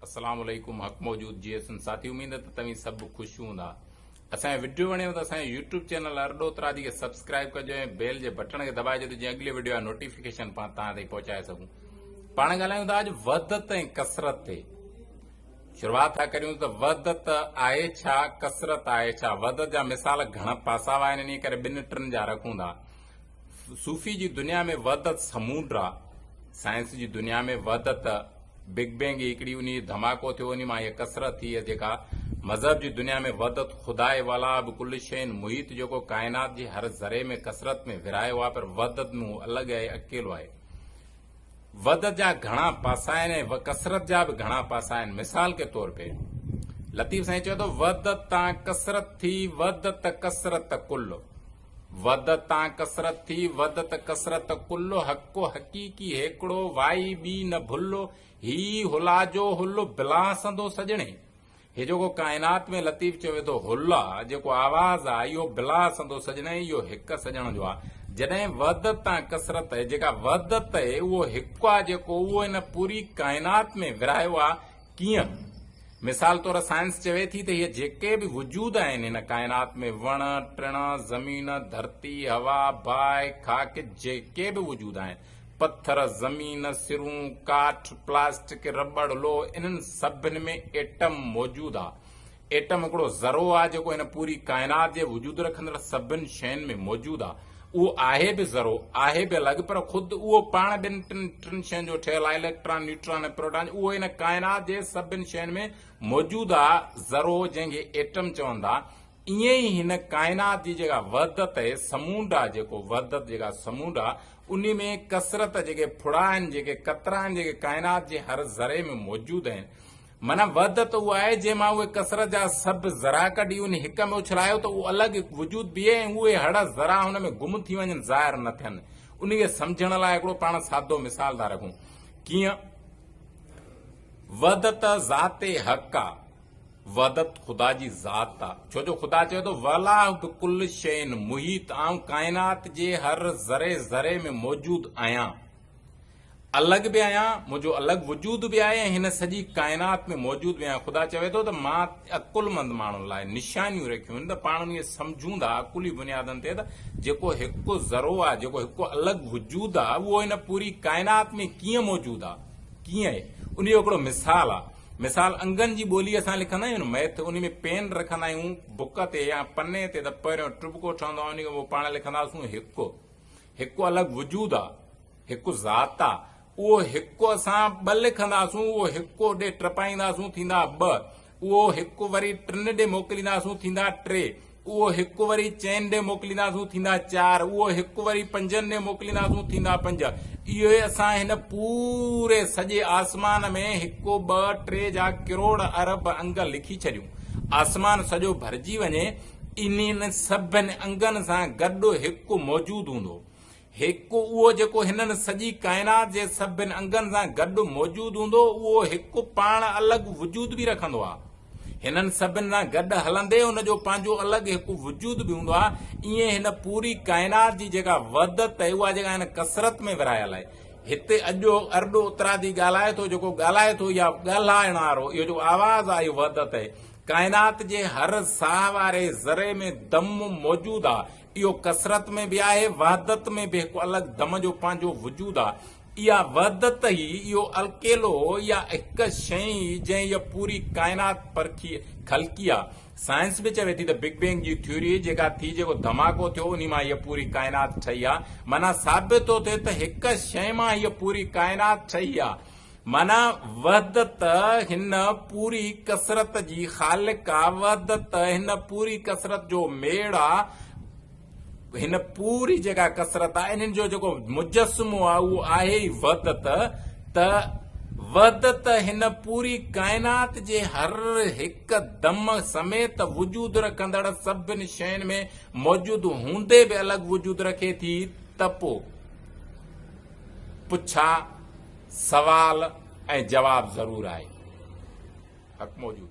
اسلام عليڪم حق موجود جي ايس ساٿي اميد ته توهين سڀ خوش هوندا اسان جو وڊيو وڻيو ته اسان جو يوٽيوب چينل ارڏو ترادي کي سبسڪرائب ڪجو ۽ بيل جي بٽڻ کي دٻائي جو ته جيئن اڳلي وڊيو جا نوٽيفڪيشن پان تان تائين پهچائي سگهون پاڻ ڳالهايون ٿا اڄ وحدت ۽ ڪسرت تي شروعات ٿا ڪريون ته وحدت آهي ڇا ڪسرت آهي ڇا وحدت جا مثال گهڻا پاسا آهن انهي ڪري ٻن ٽن جا رکون ٿا صوفي جي دنيا ۾ وحدت سمونڊ آ، سائنس جي دنيا ۾ وحدت بگ بينگ ئي هڪڙي انهي ڌماڪو ٿيو انهي مان هيء ڪثرت ٿي هيء جيڪا مذهب جي دنيا ۾ وحدت خداء والا به ڪل شين محيط جيڪو ڪائنات جي هر ذري ۾ ڪثرت ۾ ورهايو آ پر وحدت ۾ هو الڳ آهي اڪيلو آهي. وحدت جا گهڻا پاسا آهن ۽ ڪثرت جا به گهڻا پاسا آهن مثال ڪي طور پي لطيف سائين چوي ٿو وحدت تان ڪثرت ٿي وحدت ڪثرت ڪل. وڌ تان ڪثرت ٿي، وڌ ته ڪثرت ڪل، حق و حقيقي هيڪڙو، وائي ٻي نه ڀل، هي ئي هلا جو هل، بلان سندو سڄڻي. هي جيڪو ڪائنات ۾ لطيف چيو ويندو هل آ، جيڪو آواز آ، اهو بلان سندو سڄڻي، اهو هڪ سڄڻ جو آ. جڏهن وڌ تان ڪثرت آهي، جيڪا وڌ ته اهو هڪ آ جيڪو اهو هن پوري ڪائنات ۾ ورهايو آ، ڪيئن؟ مثال طور سائنس چوي ٿي ته هي جيڪي به وجود آهن هن ڪائنات ۾ وڻ، ٽڻ، زمين، ڌرتي، هوا، باهه، خاڪ جيڪي به وجود آهن، پٿر، زمين، سرون، ڪاٺ، پلاسٽڪ، رٻڙ، لوهه انهن سڀن ۾ ايٽم موجود آ. ايٽم هڪڙو ذرو آهي جيڪو هن پوري ڪائنات جي وجود رکندڙ سڀن شين ۾ موجود آهي. اهو آهي به ذرو، آهي به الڳ پر خود اهو پاڻ ٻن ٽن ٽن شين جو ٺهيل آهي، اليڪٽران، نيوٽران ۽ پروٽان جو اهو هن ڪائنات جي سڀن شين ۾ موجود آهي ذرو جنهن کي ايٽم چون ٿا ائين ئي هن ڪائنات جي جيڪا وحدت اهي سمونڊ آهي جيڪو وحدت جيڪا سمونڊ آهي انهي ۾ ڪثرت جيڪي ڦڙا آهن جيڪي قطرا آهن جيڪي ڪائنات جي هر ذري ۾ موجود آهن معنيٰ وحدت اها آهي، جنهن مان اهي ڪثرت جا سڀ ذرا ڪڍي ان هڪ ۾ اڇلايو ته اهو الڳ هڪ وجود بيهي ۽ اهي هڙ ذرا هن ۾ گم ٿي وڃن، ظاهر نه ٿين. انهيء سمجهڻ لاء هڪڙو پاڻ سادو مثال ٿا رکون. ڪيئن؟ وحدت ذات حق آ، وحدت خدا جي ذات آ، ڇو جو خدا چوي ٿو، والله بڪل شيء محيط، آئون ڪائنات جي هر ذري ذري ۾ موجود آهيان. الڳ به آهيان، منهنجو الڳ وجود به آهي ۽ هن سڄي ڪائنات ۾ موجود به آهيان. خدا چوي ٿو ته مان عقلمند ماڻهن لاء نشانيون رکيون آهن ته پاڻ انهي سمجهون ٿا عقلي بنيادن تي ته جيڪو هڪ ذرو آهي، جيڪو هڪ الڳ وجود آهي، اهو هن پوري ڪائنات ۾ ڪيئن موجود آهي؟ ڪيئن؟ انهي جو هڪڙو مثال آهي. مثال انگن جي ٻوليء سان لکندا آهيون نه مئٿ، انهي ۾ پين رکندا آهيون بڪ تي يا پني تي ته پهريون ٽٻڪو ٺهندو آهي، انهي کان پوء پاڻ لکنداسون هڪ. هڪ الڳ وجود آ، هڪ ذات آ، اهو هڪ اسان ٻه لکنداسون، اهو هڪ اوڏي ٽپائينداسون ٿيندا ٻه، اهو هڪ وري ٽن ڏي موڪلينداسون ٿيندا ٽي، اهو هڪ وري چئن ڏي موڪلينداسون ٿيندا چار، اهو هڪ وري پنجن ڏي موڪلينداسون ٿيندا پنج، اهو ئي اسان هن پوري سڄي آسمان ۾ هڪ ٻه ٽي جا ڪروڙ ارب انگ لکي ڇڏيون، آسمان سڄو ڀرجي وڃي انهن سڀني انگن سان گڏ هڪ موجود هوندو. هڪ اهو جيڪو هنن سڄي ڪائنات جي سڀني انگن سان گڏ موجود هوندو، اهو هڪ پاڻ الڳ وجود به رکندو آهي. هنن سڀني سان گڏ هلندي هن جو پنهنجو الڳ هڪ وجود به هوندو آهي. ايئن هن پوري ڪائنات جي جيڪا وحدت آهي، اها جيڪا هن ڪثرت ۾ ورهايل آهي. هتي اڄو ارڏو اترادي ڳالهائي ٿو، جيڪو ڳالهائي ٿو يا ڳالهائڻ وارو، اهو جيڪو آواز آهي اهو وحدت آهي. ڪائنات جي هر ساهه واري ذري ۾ دم موجود آ. اهو ڪثرت ۾ به آهي، وحدت ۾ به هڪ الڳ دم جو پنهنجو وجود آ. اها وحدت ئي، اهو الڪيلو، اها هڪ شيء ئي جنهن هيء پوري ڪائنات پرکي، خلقي آ. سائنس به چوي ٿي ته بگ بينگ جي ٿيوري جيڪا ٿي، جيڪو ڌماڪو ٿيو، انهي مان هيء پوري ڪائنات ٺهي آ. معنيٰ ثابت ٿو ٿئي ته هڪ شيء مان هيء پوري ڪائنات ٺهي آ. معنيٰ وحدت هن پوري ڪثرت جي خالق آ، وحدت هن پوري ڪثرت جو ميڙ آ، هن پوري جيڪا ڪثرت آ انهن جو جيڪو مجسمو آ اهو آهي ئي وحدت ته وحدت هن پوري ڪائنات جي هر هڪ دم سميت وجود رکندڙ سڀن شين ۾ موجود هوندي به الڳ وجود رکي ٿي ته پو پڇا سوال ۽ جواب ضرور آهي. حق موجود.